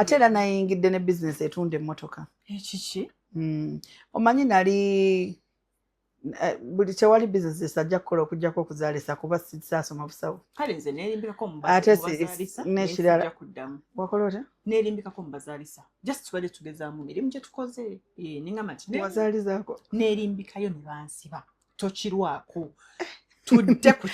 ate era nayingidde ne bizinesi etunda emmotoka ekiki hmm. omanyi nali eh, buli tewali bizinesi esajja kukola okujjako okuzaalisa kuba sisaasoma busawo kale nze nerimbikako ate nekirala wakola otya nerimbikako mubazaalisa just tubadde tugezaamu mirimu gye tukoze eh, nengamba nti wazalizaako nerimbikayo ne bansiba tokirwako tudde ku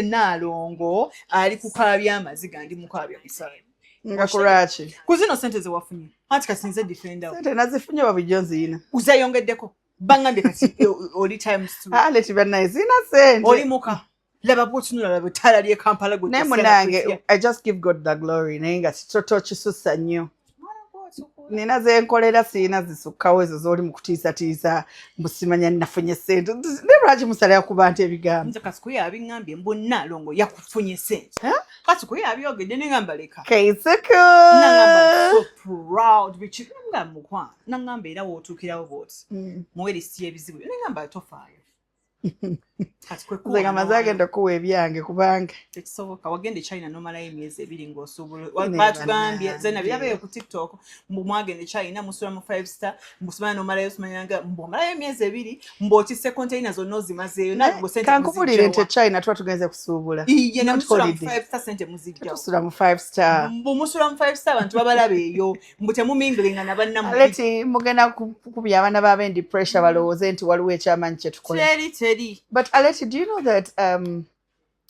naalongo ali kukaabya amaziga ndi mukaabya musaayi nga kulwaki ku zino sente zewafunye anti kati nze defenda sente nazifunye babijjo nziyina uzayongeddeko bangambye kati oli times two aleti ah, bannaye ziyina sente oli muka laba bwotunula laba ettaala ly'e kampala gwe naye munange i just give god the glory naye nga tokisusa nnyo nina zenkolera sirina zisukkawo ezo zoli mu kutiisatiisa mbusimanya nafunye sente naye lwaki musalira ku bantu ebigambo kasikuyo abiŋambye mbu nalongo yakufunye sente kasikuyo abyogedde neŋamba leka kaisuku mukwano naŋamba era wotuukirawo bwoti mm. muwe lisiti y'ebizibu yo neŋamba tofaayo nze nga maze agenda okuwa ebyange kubanga tekisoboka wagenda echina nomalayo emyezi ebiri ngaosuubulabatugambye zena birabeyo ku tiktok mbu mwagenda echina musula mu five star mbusumana nomalayo sumanyanga mbu omalayo emyezi ebiri mbu okise containa zonna ozimazeeyo kankubulire nti echina tuba tugenze kusuubula iye namusula mu five star sente muzijjatusula mu five star mbu musula mu five star abantu babalabeeyo mbu temuminglinga na bannamuleti mugenda kukubya abaana ba bendi pressure balowooze nti waliwo ekyamanyi kyetukola teri teri but aleti do you know that um,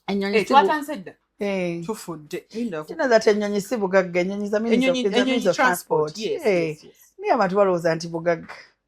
enyonyi eh, twatanse dda eh. tufudde kino that enyonyi si bugagga enyonyi za transport naye abantu balowooza nti bugagga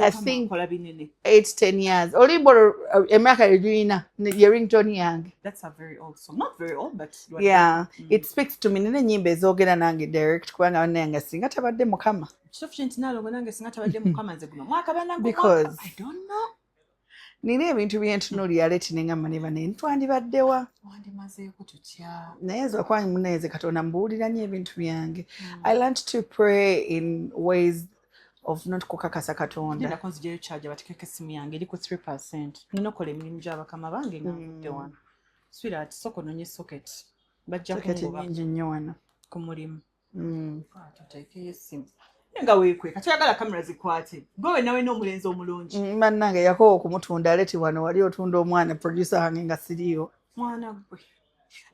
I think eight ten years olimba olwo uh, emyaka yegirina ye rington yange yeah mm. it speaks to me nina enyimba ezogera nange direct kubanga banayanga singa tabadde mukama kitufu kye nti nalongo nange singa tabadde mukama nze guno mwaka banange because i don't know nina ebintu byentunuulira leti ne ngamba ne bane twandibaddewa wandimazeeko tutya naye nze wakuba munaeze katonda mbuwulira nyo ebintu byange hmm. i learnt to pray in ways of not kukakasa katonda nzijayo charge batikeko esimu yange eri ku 3 percent nina okola emirimu gyabakama bange nga hmm. nvudde wano swirat soko nonye socket bajja kungoba nyingi nnyo wano ku mulimu Hmm. tuteekeyo essimu nga weekweka toyagala kamera zikwate gwewe nawe n'omulenzi omulungi hmm, bannange yakowa okumutunda aleti wano wali otunda omwana producer wange nga siriyo mwana gwe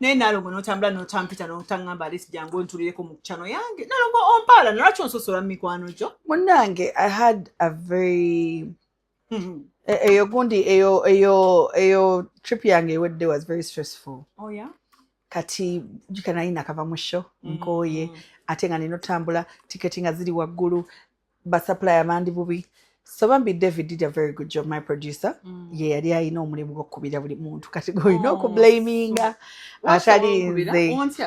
naye nalongo notambula notampita notangamba alesi jangu onturireko mu kyano yange nalongo ompaala nalwaki onsosola mu mikwano gyo munnange i had a very Mm-hmm. E, eyo gundi eyo eyo eyo trip yange ewedde was very stressful oh, yeah? kati jika nayi nakava mu show mm-hmm. nkooye mm -hmm. ate nga nina otambula tiketi nga ziri waggulu basupplier bandi bubi so bambi david did a very good job my producer mm. ye yali alina omulimu gwokukubira buli muntu kati golina oh, okublaminga atali nze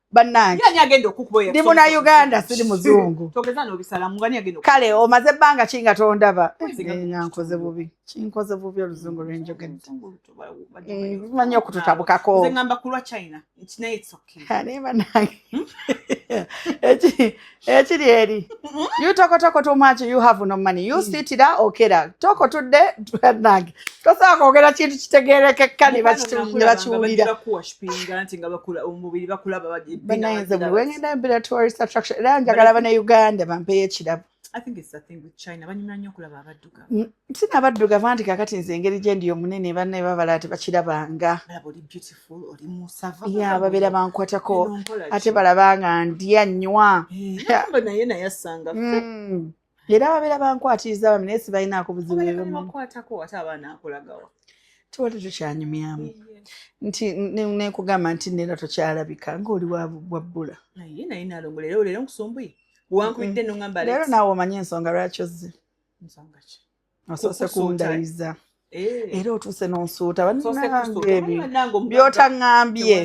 bannange ndi muna uganda siri muzungu kale omaze ebbanga ki nga tondaba nga nkoze bubi kinkoze bubi oluzungu lwenjogedde manyi okututabukako naye banange ekiri eh, eri you toko toko too much you have no money you mm. sit sitira okera toko tudde nange tosobola kwogera kintu kitegeerekeka ne bakiwulira banayenze buli wengenda mbira tourist attraction era njagala bana uganda bampeyo ekirabo mm, sinabaddugavu anti kakati nze engeri gyendi omunene banne babala tebakirabanga ya babeera bankwatako ate balaba nga ndya nnywa era babeera bankwatiriza bami naye sibalinaako buzibu tewali tukyanyumyamu nti nekugamba nti neera tokyalabika ngaoli wabbula leero nawe omanye ensonga lwaki ozze osoose kundayiza eh. era otuuse nonsuuta banange byotaŋambye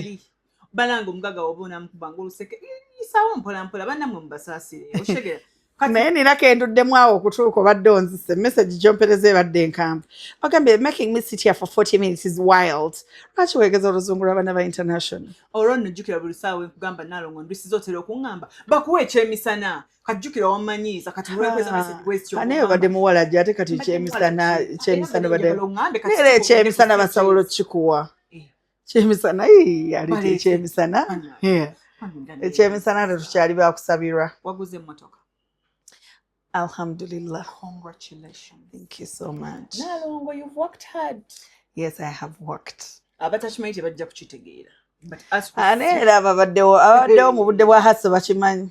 banange omugaga oba onamukubanga oluseke isawo mpolampola banamwe mubasaasire okitegera naye nina kenduddemu awo okutuuka obadde onzise message gyompereza ebadde enkambu ogambye making me sit here for 40 minutes is wild lwaki wegeza oluzungu lwabana ba international olwo nojjukira buli saawa enkugamba nalongo ndwisiza otera okuŋŋamba bakuwa ekyemisana kajjukira wamanyiiza kati naye obadde muwala gye ate kati kyemisana kyemisana badeera ekyemisana basobola okukikuwa eh. kyemisana yaleta ekyemisana ekyemisana tetukyali bakusabirwa waguze emotoka alhamdulillah congratulations thank you so much nalongo you've worked hard yes i have worked abatakimanyi tebajja kukitegeera ane era ababaddewo ababaddewo mu budde bwa haso bakimanyi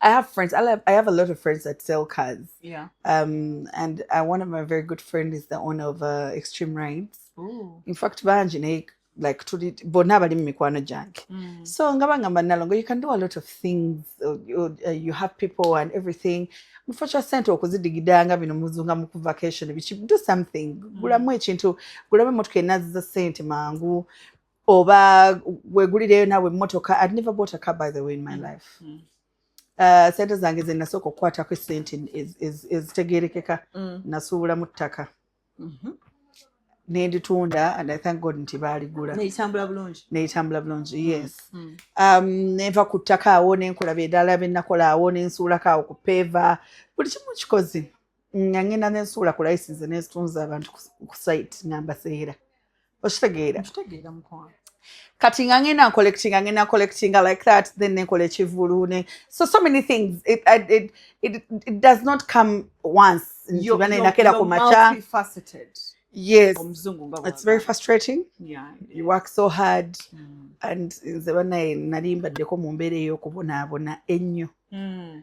I have friends. I have, I have a lot of friends that sell cars. Yeah. Um, and uh, one of my very good friends is the owner of uh, Extreme Rides. Ooh. In fact, banji ne like tuli bonna bali mumikwano gyange mm. so nga bangamba nalongo you can do a lot of things uh, you, uh, you have people and everything mufo kya sente okuzidigidanga bino muzunga muku vacation biki do something mm. gulamu ekintu gulamu emotoka enaziza sente mangu oba wegulireyo nawe emmotoka i'd never bought a car by the way in my mm. life mm. Uh, sente zange ze nasooka okukwatako esente ezitegerekeka mm. nasuubula mu ttaka mm-hmm. nenditunda and i thank god nti baaligula neyitambula bulungi neyitambula bulungi mm, yes mm. um, nenva ku ttaka awo nenkola bedala benakola awo nensuulako awo ku peeva buli kimu kikozi nga ngenda nensuula ku layisinze nenzitunza abantu ku site nga mbaseera okitegeera kati nga ngenda ncollectinga ngenda ncollectinga like that then nenkola ekivulu ne so so many things it, it, it, it, it does not come once ntibanenakera ku maca yes it's very frustrating yeah, yeah. you work so hard mm. and nze banaye nali mbaddeko mu mbeera ey'okubonaabona ennyo mm.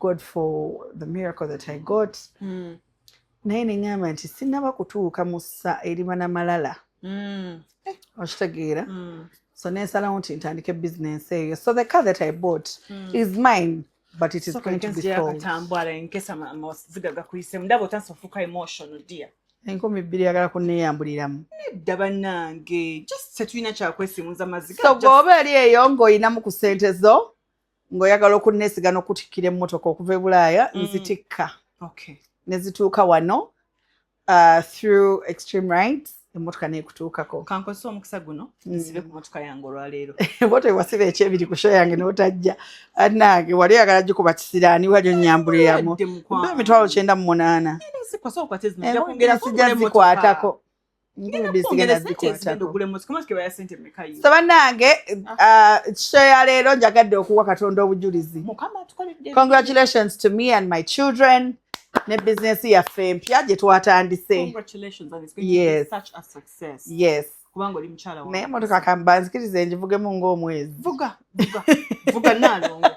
god for the miracle that i got mm. naye neŋamba nti sinaba kutuuka mu ssa eriba na malala mm. eh, okitegeera mm. so nensalawo nti ntandike bisinensi eyo so the car that i bought mm. is mine but it is so going to be sold enkumi bbiri yagala kuneyambuliramu nedda banange just tetulina kyakwesimuza maziga so gwoba eri eyo ng'olinamu ku sente zo ng'oyagala okunnesiga n'okutikkira emmotoka okuva e bulaaya mm. nzitikka ne zituuka wano uh, through extreme rights emmotoka neekutuukako kankozesa omukisa guno mm. nsibe ku motoka yange olwaleero bota ewasiba ekyebiri ku sho yange notajja anange wali oyagala gikuba kisiraani wali onyambuliramu emitwalo kyenda mu munaana sijja zikwatako sabanange ah. uh, show ya leero njagadde okuwa katonda obujulizi congratulations to me and my children ne bizinesi yaffe empya gye twatandise yes kubanga oli mukyala wange naye motoka kambanzikirize njivugemu ng'omwezi vuga vuga vuga nalongo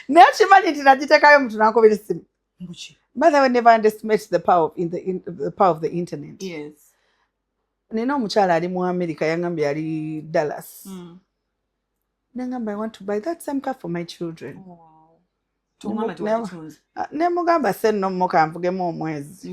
naye okimanyi nti nagitekayo omuntu nankubira essimu mbuki by the way never underestimate the power of in the, in, the power of the internet yes nina omukyala ali mu america yangamba yali dallas mm. nangamba i want to buy that same car for my children wow. Ah, nemugamba senno muka nvugemu omwezi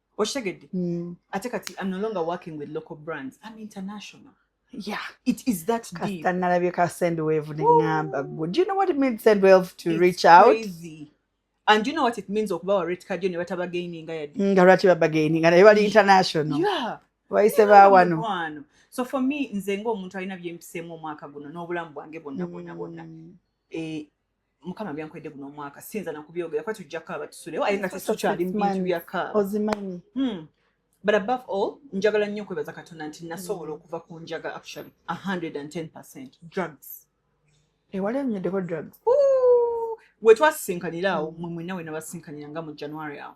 okitegedde hmm. ate kati am no longer working with local brands am international Yeah, it is that deep. Kastanalabye ka Sendwave nengamba gwe. Do you know what it means Sendwave to it's reach out? Crazy. And you know what it means okuba wa rate card yo ne bataba gaining nga yadi. Nga lwaki baba gaining nga bali international. Yeah. Wayise ba wano. So for me nze ng'omuntu alina byempiseemu omwaka guno n'obulamu bwange bonna bonna bonna. Mm. Eh, mukama byankwedde guno omwaka siyinza nakubyogera kuba tujja kaaba tusulewo aye nga tetukyali mubintu bya kaaba ozimanyi hmm. but above all njagala nnyo okwebaza katonda nti nasobola hmm. okuva ku njaga actually 110 percent drugs ewali eh, enyoddeko drugs wetwasisinkanira awo hmm. mwe mwena wenabasinkanira nga mu january awo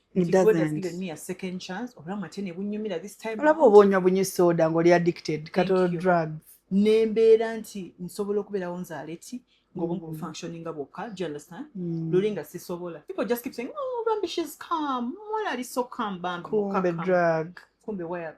olaba oba onywa bunyi soda ngaoli addicted katolo drugs nembeera nti nsobola okubeerawo nzaale ti ngobungu mm. bufunctioninga bwokka do you understand mm. luli nga sisobola people just keep saying oh bambi she's calm mwala ali so calm bambi kumbe drug kumbe waya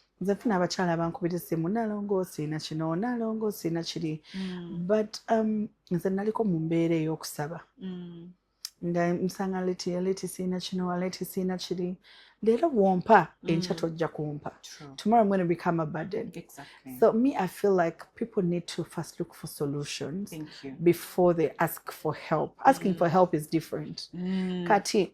nze funa abakyala bankubira essimu nalongo osiina kino nalongo osiina kiri mm. but um, nze naliko mu mbeera ey'okusaba mm. nga nsanga leti aleti siina kino aleti siina kiri leero bwompa mm. enkya tojja kumpa tomorrow going to become a burden exactly. so me i feel like people need to first look for solutions before they ask for help asking mm. for help is different mm. kati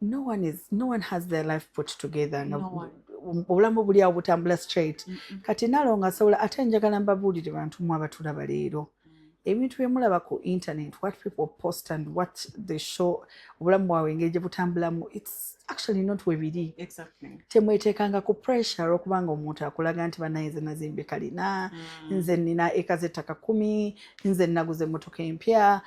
no one is no one has their life put together no one obulamu buli awo butambula straight kati nalo nga asobola ate njagala mbabuulire bantu mwe abatulaba leero mm. ebintu byemulaba ku internet what people post and what the show obulamu bwawe engeri gye butambulamu its actually not we biri temweteekanga ku pressure olwokuba nga omuntu akulaga nti banaye nze nazimbe kalina mm. nze nina eka zettaka kumi nze naguze emmotoka empya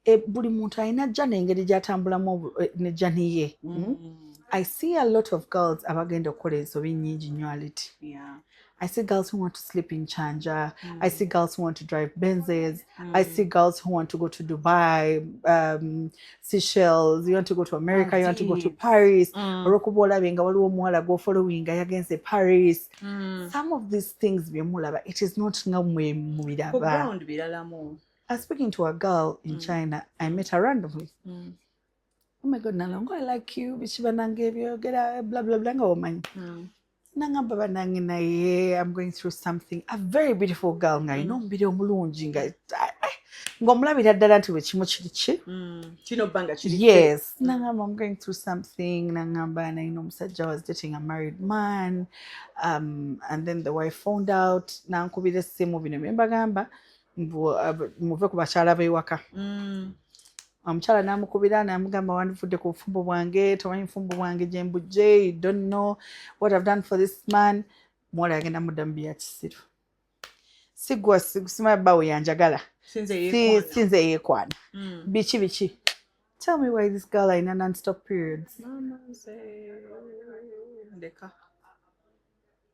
E, buli muntu alina ajja nengeri gyatambulamu e, ne jani ye mm. mm. i see a lot of girls abagenda okukola ensobi nyingi nyo aliti yeah. I see girls who want to sleep in Chanja. Mm. I see girls who want to drive Benzes. Mm. I see girls who want to go to Dubai, um, Seychelles. You want to go to America. Indeed. You want to go to Paris. Mm. Orokubola benga waliwo muwala go following yagenze Paris. Mm. Some of these things byemulaba it is not nga mwe mubiraba. Ku ground biralamu. I was speaking to a girl in mm. China. I met her randomly. Mm. Oh my God, Nalongo, I like you. Bichiba nangebyo, get a blah, blah, blah, woman. Mm. Nanga baba nangi na ye, I'm going through something. A very beautiful girl nga, you know, mbide omulungi nga. Ngomulabira ddala nti bwe kimu kiri ki. Kino banga kiri ki. Yes. Mm. Nanga I'm going through something. Nanga mba na, you know, musajja was dating a married man. Um, and then the wife found out. Nankubira essimu bino bye mbagamba. Eh, muve ku bakyala b'ewaka mm. omukyala namukubira namugamba wandivudde ku bufumbo bwange tomanyi bufumbo bwange gyembujje you don't know what i've done for this man muwala yagenda muddamu bya kisiru sigwa simaya bawo yanjagala sinze yekwana mm. biki biki tell me why this girl alina nonstop periods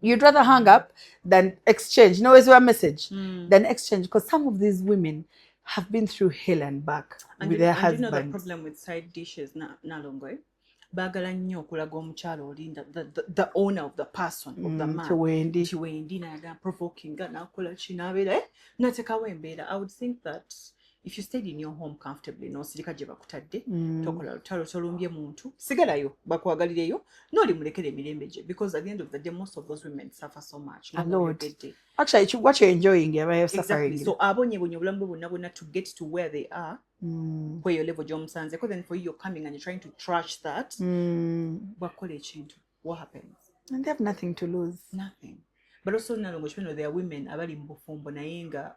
you'd rather hang up than exchange no wezi wa message mm. than exchange because some of these women have been through hell and back and with you, their and husbands. You know the problem with side dishes na, na longo, eh? baagala nnyo okulaga omukyala oli the owner of the person of the mm, man kiwendi kiwendi nayaga provokinga nakola ki nabeera eh? natekawo embeera i would think that if you stayed in your home comfortably nosirika gye bakutadde mm. tokola lutalo tolumbye muntu sigalayo bakwagalireyo noli mulekera emirembe gye because at the end of the day most of those women suffer so much so abonyebonye obulamu bwe bonna bonna to get to where they are mm. kweyo level gyomusanzeko then for you you're coming and you're trying to trash that mm. bakukola ekintu what happens and they have nothing to lose nothing but also nalongo kipeno there are women abali mu bufumbo naye nga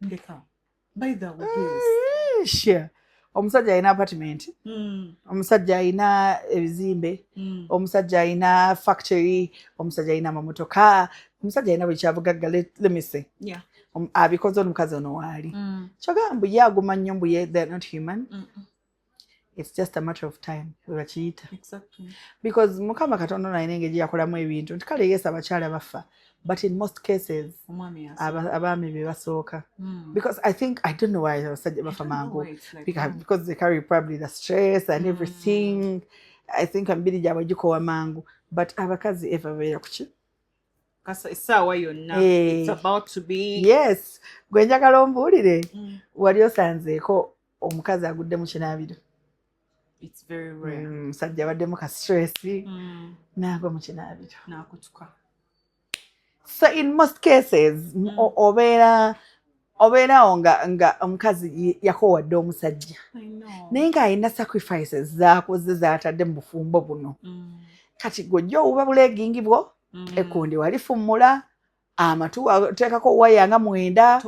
ndeka by the way sure omusajja alina apartment hmm. omusajja alina ebizimbe hmm. omusajja alina factory omusajja alina amamotoka omusajja alina buli kyabugagga lemise um, abikoze omukazi ono waali hmm. kyogamba mbu ye aguma nnyo mbu ye they're not human it's just a matter of time webakiyita exactly. because mukama katonda nalina engeri yakolamu ebintu nti kale yesu abakyala baffa but in most cases abaami be basooka hmm. because i think i don't know why abasajja bafa mangu because they carry probably the stress and hmm. everything i think emibiri gyabwe gikowa mangu but abakazi eva beera kuki essaawa yonna eh. yes gwe njagala ombuulire hmm. wali osanzeeko omukazi agudde mu kinaabiro omusajja mm, abaddemu ka stress mm. naagwa mu kinaabiro nakutuka so in most cases mm. obeera obeerawo nga nga omukazi yakowadde omusajja naye ng'alina sacrifices zakoze zatadde mu bufumbo buno kati gojja owuba buleegingi bwo ekundi walifummula amatu tekako waya nga mwenda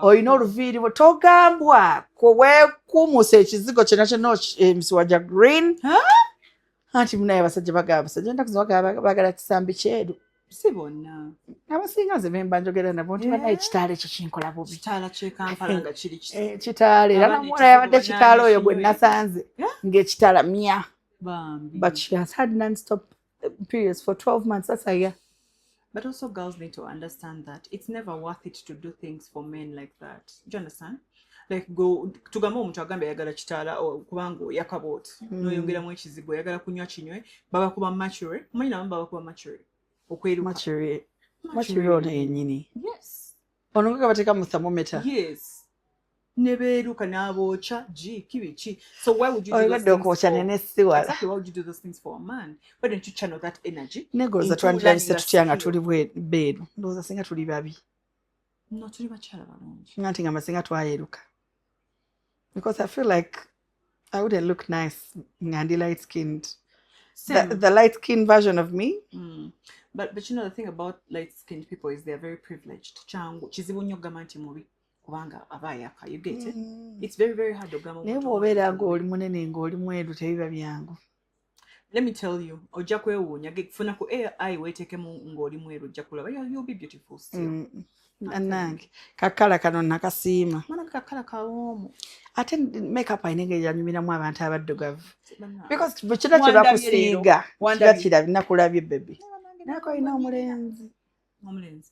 olina oluviiri togambwa kwewekumusa ekizigo kyona kyona emisiwa gya green anti munaye abasajja bagaba basajja ennaku zibagala kisambi kyeru si bonna abasinga nze bemba njogera nabo nti banaye kitaala ekyo kinkola bubi kitaala era namuwala yabadde kitaala oyo gwe nasanze ng'ekitaala mya but she has had non stop periods for 12 months that's a year but also girls need to understand that it's never worth it to do things for men like that do you understand like go tugambe omuntu agambe ayagala kitaala kubanga oyaka booti mm. noyongeramu ekizibu oyagala kunywa kinywe babakuba mature omanyi nabamu babakuba mature okweruka mature mature ono yenyini yes ono nga kabateeka mu thermometer yes nebeeruka n'abookya gi kibiki so why would you obadde okwokya nene siwala exactly why would you do those things for a man why don't you channel that energy negoloza twandiranise tutya nga tuli beeru ndowooza singa tuli babi no tuli bakyala balungi nga nti nga masinga twayeruka because i feel like i wouldn't look nice nga ndi light skinned the, Same. the light skinned version of me Mm. But, but you know the thing about light skinned people is they're very privileged kyangu kizibu nnyo okugamba nti mubi kubanga aba ayaka you get it it's very very hard okugamba naye omuntu bw'obeera omuntu ng'oli munene ng'oli mweru tebiba byangu let me tell you ojja kwewuunya funa ku ai weetekemu ng'oli mweru ojja kulaba you'll be beautiful still mm, nange kakala kano nakasiima manake kakala kawoomu ate makeup alina engeri yanyumiramu abantu abaddugavu because bwe kino kye bakusiiga kiba kirabye nakulabye bebi naye ko olina omulenzi omulenzi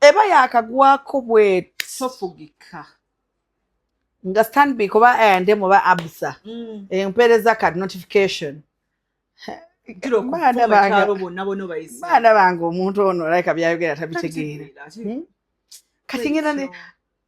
eba yakagwako bwet tofugika nga stanbic oba ande muba absa mm. empeereza eh, card notification baana bange omuntu ono olaika byayogera tabitegeera hmm? kati ngenda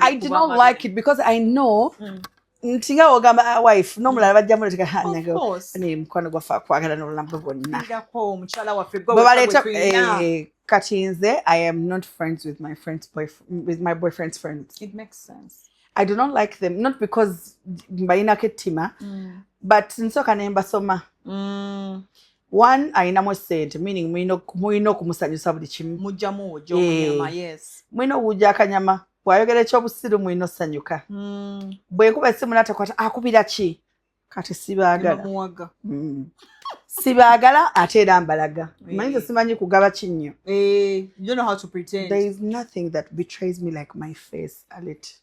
I did not like it because I know mm. ntinga ogamba ah, wife nomulala bajja muleteka hanaye mukwano gwaffe akwagala nolunamu bwonna bwebaleeta eh, kati nze i am not friends with my friends with my boyfriend's friends it makes sense i do not like them not because mbayinako ettima mm. but nsooka ne mbasoma mm. one alinamu sente meaning mulina okumusanyusa buli kimu mujjamu ojomunyama eh. yes mulina okuwujja akanyama bwayogera ekyobusiru mulina osanyuka hmm. bwenkuba esimu natakwata akubira ki kati sibaagala hmm. sibaagala ate era mbalaga eh. manyize simanyi kugaba kinnyo eh, there is nothing that betrays me like my face alit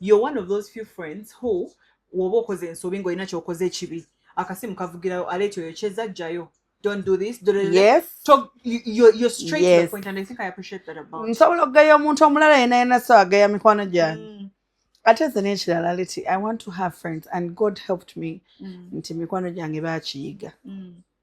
you're one of those few friends who woba okoze ensobi ngaolina kyokoze ekibi akasimu kavugirayo ala ekyo yokyeza jjayo don't do this do yes. Talk, you, you're, you're straight yes. to the point and I think I appreciate that about nsobola okugaya omuntu omulala yena yena so agaya mikwano gyange mm. ate nze nekirala leti i want to have friends and god helped me mm. nti mikwano gyange bakiyiga mm.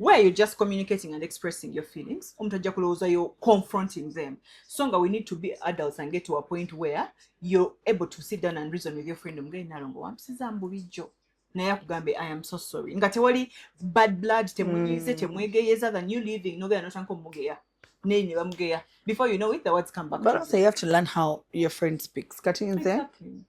where you're just communicating and expressing your feelings omuntu ajja kulowooza you're confronting them so nga we need to be adults and get to a point where you're able to sit down and reason with your friend omugeri nalongo wampisiza mbulijjo naye akugambe i am so sorry nga tewali bad blood temunyize mm. temwegeyeza than you living nogera notanka omugeya naye ne bamugeya before you know it the words come back but also you have to learn how your friend speaks kati nze exactly.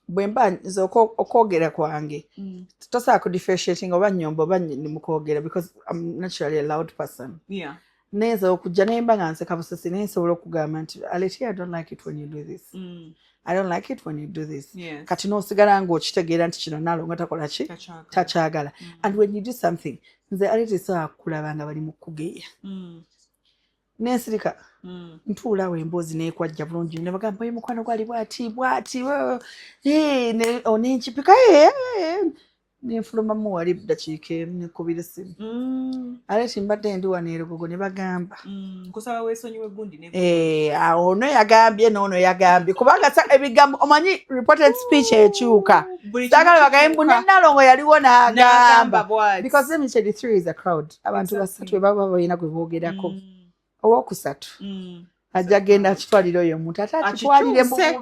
bwemba nze okwogera kwange mm. tosobola ku differentiating oba nyomba oba mukwogera because am naturally a loud person yeah. nayinza okujja nemba nga nseka busesi naye nsobola okugamba nti aleti i don't like it when you do this mm. i don't like it when you do this yes. kati nosigala nga okitegeera nti kino nalonga takola ki takyagala mm. and when you do something nze aleti saa kulaba nga bali mukugeya mm. nensirika hmm. ntuulawo emboozi nekwajja bulungi nebagamba ye mukwano gwali bwati bwati onenkipika nenfulumamu wali dakiika emu nekubira esimu hmm. ale timbadde ndi wano erugogo ne bagamba hmm. awo ono yagambye noono yagambye kubanga ebigambo omanyi reported speech ekyuka sagala bagaye mbu nenalongo yaliwo nagamba because let me tell you three is a crowd abantu basatu webaba balina gwe boogerako mm. owokusatu mm. ajja genda akitwalira oyo omuntu ate akitwalire mu bubiso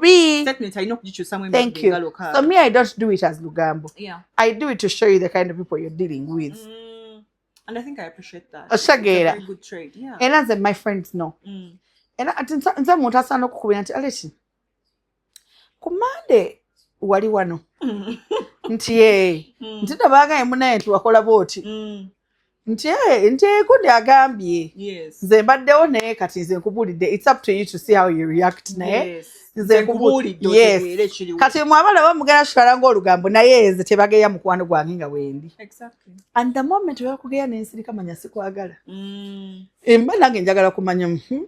me i don't do it as lugambo yeah. i do it to show you the kind of people you're dealing with mm. and i think i appreciate that oshageera yeah. era nze my friends no mm. era ati nze muntu asaana okukubira nti aleki ku mande wali wano nti ee eh, mm. nti tebagaye munaye nti wakola booti mm. nti ee eh, nti ekundi eh, agambye nze mbaddewo naye kati nze nkubuulidde its up to you to see how you react naye yes. kati mwabala bamugera kitwala ngaolugambo naye nze tebageya mukwano gwange nga wendi and the moment bakugeya nensirika manya sikwagala mm. emba nange njagala kumanya hmm?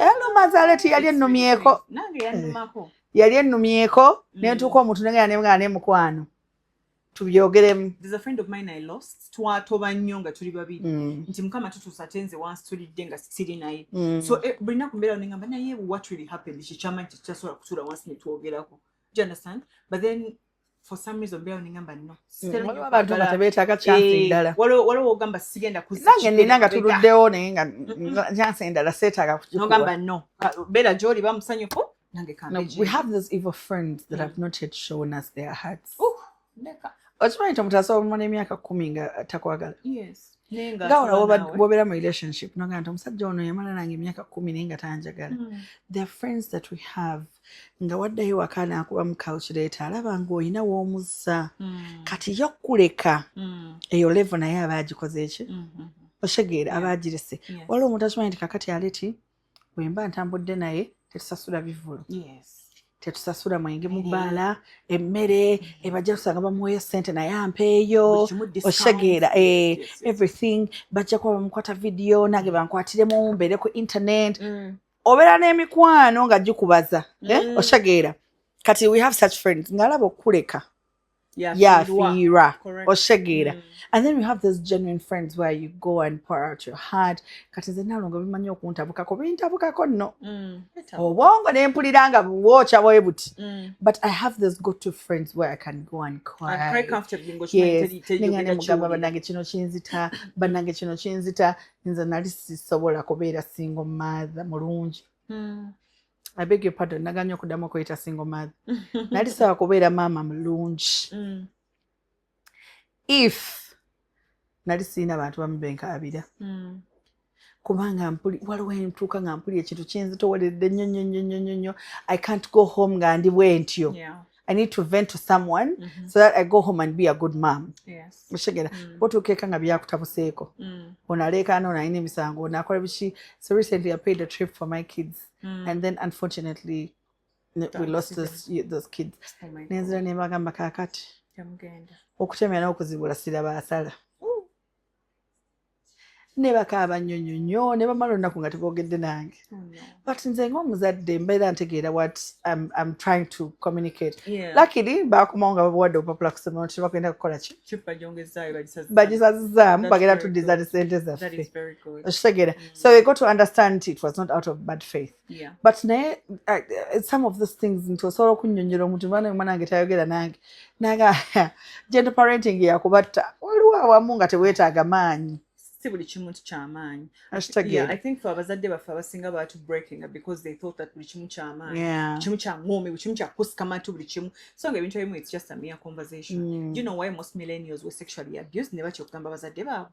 eluma eh, zale ti yali ennumyeko eh, yali ennumyeko mm. nentuuka omuntu nengera nemugana ne mukwano tubyogeremu twatoba nnyo nga tuli babiri mm. nti mukama tutuusa te nze wansi tulidde nga siri naye mm. so eh, buli naku mbeera nengamba naye what really happened kikyamanyi kikyasobola kutuula wansi netwogerako do you understand but then for some reason bela ningamba no waliwo abantu nga tebeetaaga kyansi eh, endala waliwo ogamba sigenda kuzange nina nga tuluddewo naye nga kyansi endala seetaaga kukikuwa no bela gyoli bamusanyufu nange kambeji we have those evil friends that have mm. not yet shown us their hearts okimanyi tomutaasa omumala emyaka kumi nga takwagala yes nga wona wobeera mu relationship noga nti omusajja ono yamala nange emyaka kumi naye nga tanjagala hmm. the friends that we have nga waddayo waka naakuba mu calculator alaba nga olina w'omuzza hmm. kati yo kuleka hmm. eyo levo naye aba agikoze eki mm-hmm. otegeera aba agirese waliwo omuntu akimanyi nti kakati aleti bwemba ntambudde naye tetusasula bivulu yes. tetusasula mwenge mubaala emmere ebajja tusanga bamuweeyo sente naye ampeeyo oshegeera eh, everything bajja kuba bamukwata vidiyo nange bankwatiremu mbeere ku internet mm. obeera n'emikwano nga gikubaza eh, mm. oshegeera kati we have such friends ngaalaba okukuleka yafiirwa oshegeera mm. and then we have those genuine friends where you go and pour out your heart kati nze nalongo bimanyi okuntabukako bintabukako nno mm. obwongo nempulira nga bwokya bwe buti mm. but i have those go to friends where i can go and cryyesanemugamba banange kino kinzita banange kino kinzita nze nali sisobola kubeera single mother mulungi I beg your pardon naganye okudamu okuyita single mother nali sawa kubeera maama mulungi mm. if nali sirina bantu bamu benkaabira mm. kubanga mpuli waliwo entuuka nga mpuli ekintu kinzitoweredde nnyo nnyo nnyo nnyo nnyo i can't go home nga ndi bwentyo yeah. I need to vent to someone mm -hmm. so that I go home and be a good mom. Yes. Mushigera. Mm. Otu keka nga biya kutabuseko. Mm. Onaleka ano na ine misango. Ona kwa bichi. So recently I paid a trip for my kids. Mm. And then unfortunately we lost this, those kids. Oh Nenzira ne magamba kakati. Yamugenda. Okuchemera okuzibula sira basala. ne bakaaba nnyo nnyo nnyo ne bamala olunaku nga teboogedde nange oh, but nze ngaomuzadde mbeera ntegeera what im trying to communicate luckily baakomawo nga babawadde obupapula kusomero nti bagenda kukola ki bagisazizaamu bagenda tuddiza ne sente zaffe okitegeera mm. so we got to understand it was not out of bad faith yeah. but naye uh, some of these things nti osobola okunyonyola omuntu mwana omwana wange tayogera nange naga gentle parenting yakubatta waliwo awamu nga tewetaaga maanyi si buli kimu nti kyamaanyi i think fe abazadde baffe abasinga baatu breakinga because they thought that buli kimu kyamaanyi yeah. kimu kya ngoomi buli kimu kyakukusika matu buli kimu so nga ebintu ebimu it's just a mere conversation mm. you know why most millennials were sexually abused ne batya okugamba abazadde baabwe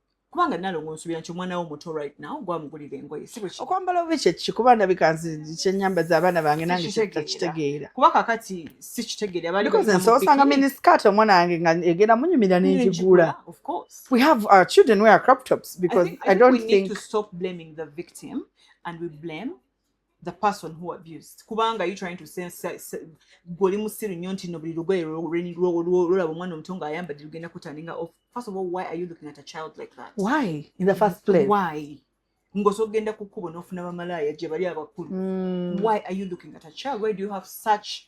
kubanga nalongo nsubira nti omwana wo muto right now gwamugulira engoye okwambala obi kyekiki kuba ndabika nzi kyenyamba za abaana bange nange takitegeera kuba kakati si kitegeera baliosanga miniskat omwana wange nga egenda munyumira nengigula we have our children wear crop tops because i, think, I, think I don't think, think to stop blaming the victim and we blame the person who abused kubanga you trying to sense goli musiru nyo ntino buli lugoye lwolaba omwana omuto nga ayambadde lugenda kutaninga off first of all why are you looking at a child like that why in the first place why ngoso ogenda kukubo nofuna bamalaaya gye bali abakulu mm. why are you looking at a child why do you have such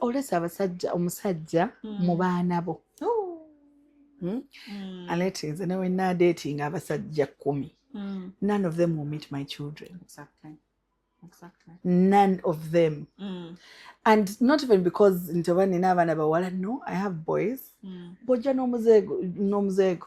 olesa abasajja omusajja mm. mu baana bo hmm? mm. alete nze newe nadetinga abasajja kumi mm. none of them will meet my children exactly. Exactly. none of them mm. and not even because nti oba nina abaana bawala no i have boys mm. bojja n'omuzeego n'omuzeego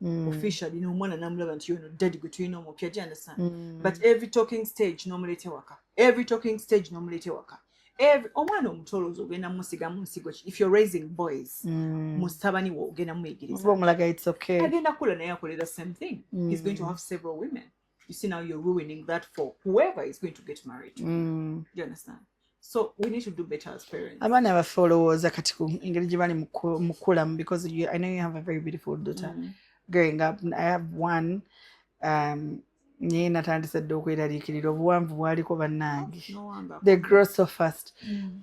mm. official you know omwana namulaba nti yono daddy gwe tulina omupya do you understand mm. but every talking stage nomuleeta ewaka every talking stage nomuleeta ewaka omwana omutolozi ogenda musiga munsigo if you're raising boys mm. musabani wo ogenda muyigirizaagenda kula naye akolera same thing mm. he's going to mm. have several women you see now you're ruining that for whoever is going to get married to mm. you understand so we need to do better as parents abaana baffe olowooza kati ku engeri gye bali mukulamu because you, i know you have a very beautiful daughter mm. growing up i have one um, naye natandise dde okweraliikirira obuwanvu bwaliko bannange oh, the grow so fast mm.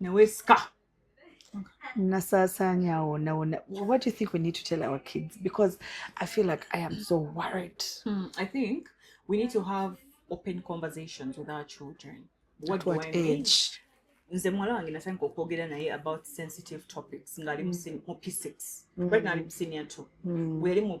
newesika nasasanya awo nawona what do you think we need to tell our kids because i feel like i am so worried hmm, i think we need to have open conversations with our children what, what do I mean? age nze muwala wange natandika okwogera naye about sensitive topics ngaali mm. mu p6 mm. right ngaali mu senior two mm. weyali mu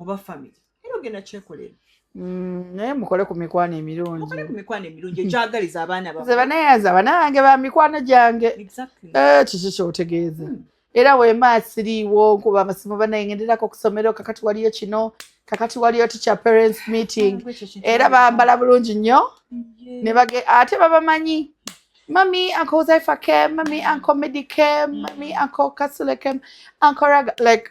oba famire era ogenda kyekolera mm, naye mukole ku mikwano emirungi ku mikwano emirungi egyagaliza abaana baze banayaza abana bange ba mikwano gyange eh, kiki kyotegeeza hmm. era wema asiriiwo nkuba amasimu banaye ngenderako okusomero kakati waliyo kino kakati waliyo teacher parents meeting ah, era bambala bulungi nnyo nebage ate babamanyi mami uncle Zephyr came, mami uncle Midi came, mami uncle Kasule came, uncle Raga, like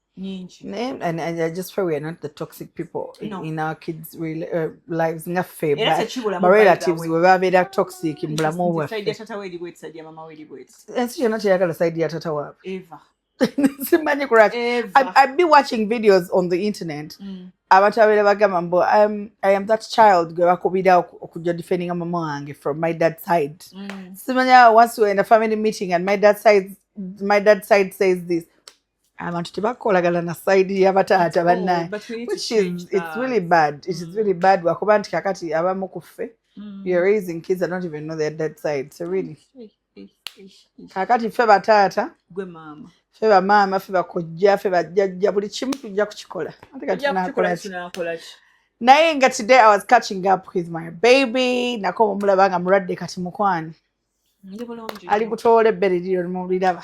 nyingi naye and, and i just pray we are not the toxic people in, no. in our kids real, uh, lives nga ffe barelatives we babeera toxic mu bulamu bwaffeensi yonna teyagala saidi ya tata waabe simanyi kulwaki i'd be watching videos on the internet mm. abantu babeera bagamba mbu um, i am that child gwe bakubira okujja defendinga mama wange from my dad side mm. simanya once we're in a family meeting and my dad side, my dad side says this abantu tebakolagana na side yabataata oh, bannaye which is it's really bad it is really mm. bad lwakuba nti kakati abamu ku ffe mm. you're raising kids that don't even know their dead side so really kakati ffe bataata gwe maama ffe bamaama ffe bakojja ffe bajjajja buli kimu tujja kukikola naye nga today i was catching up with my baby nako omulaba nga mulwadde kati mukwani ali kutoola ebbere liryo mubiraba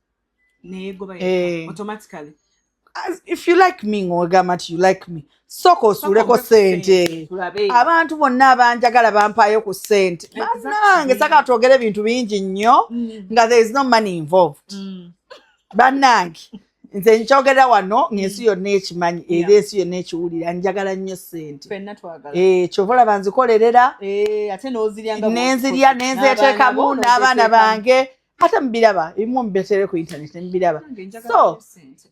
neyegoba eh. automatically As if you like me ng'ogamba nti you like me sooka osuuleko ssente abantu bonna abanjagala bampaayo ku ssente banange saka twogere ebintu bingi nnyo mm. nga there is no money involved mm. banange nze nkyogera wano ng'ensi mm. yonna ekimanyi era ensi yonna ekiwulira njagala nnyo ssente eh, kyova olaba nzikolerera eh, nenzirya nenzeteekamu n'abaana bange ate mubiraba ebimu mubetere ku internet mubiraba so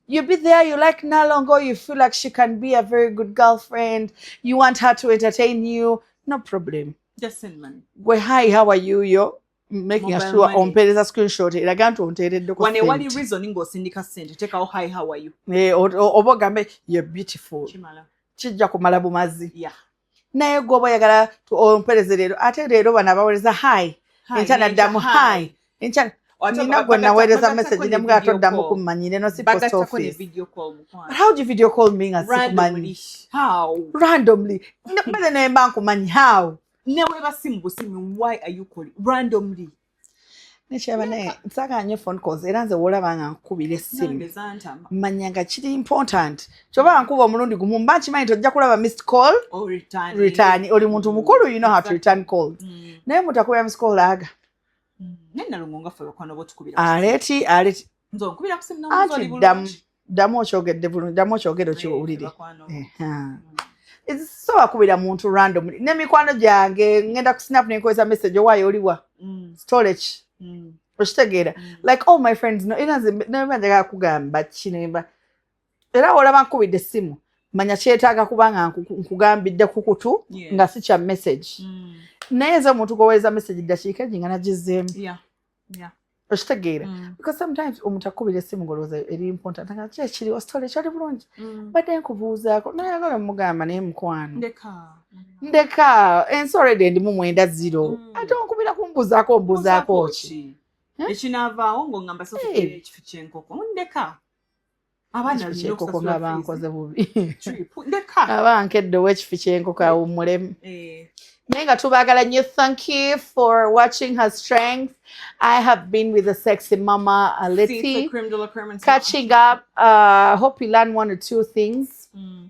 you be there you like nalongo you feel like she can be a very good girlfriend you want her to entertain you no problem just send money we hi how are you yo making Mobile sure money. ompeereza screenshot eraga nti onteereddeko wane wali reason ng'osindika sente tekawo hi how are you eh, oba ogambe you're beautiful kijja kumala bumazi yeah. naye gwe oba oyagala ompereze leero ate leero bano abawereza hi enkya naddamu hi enkya nina gwe naweereza message ne mga toddamu kummanyi leno si post office but how do you video call me nga sikumanyi randomly mbele naye mba nkumanyi how neweba simu busimu why are you calling randomly nekyaba naye nsagala nyo phone calls era nze wolaba nga nkukubira essimu manya nga kiri important kyoba nkuba omulundi gumu mba nkimanyi nti ojja kulaba missed call oh, return oli muntu mukulu you know how to return calls mm. naye mutakubira missed call aga mm. aleti aleti nze onkubira ku simu namubuuza oli bulungi ddamu okyogedde bulungi ddamu okyogere okiwulire so wakubira muntu random ne mikwano gyange ngenda ku snap nenkozesa message owaayo oliwa mm. storage mm. okitegeera mm. like all my friends no era nze neba njagala kugamba kinemba era olaba nkubidde essimu manya kyetaaga kubanga nkugambidde ku kutu nga si kya message mm. naye nze omuntu gwoweereza message ddakiika eji nga nagizeemu yeah okitegeera mm. because sometimes omuntu akubira esimu ngolowooza eri important nga ki ekiri ositole ekyali bulungi mm. badde nkubuuzaako nayagala omugamba naye mukwano ndeka ensi already endimu mwenda ziro mm. ate onkubira kumbuuzaako ombuuzaako ki eh? ekinaavaawo ngaoamba soekifo kyenkoko ndeka abaanaekoko nga bankoze bubi abankedde owekifi kyenkoko awummulemu eh. naye nga tubaagala nyo thank you for watching her strength i have been with the sexy mama aleti catching up uh, hope you learn one or two things mm.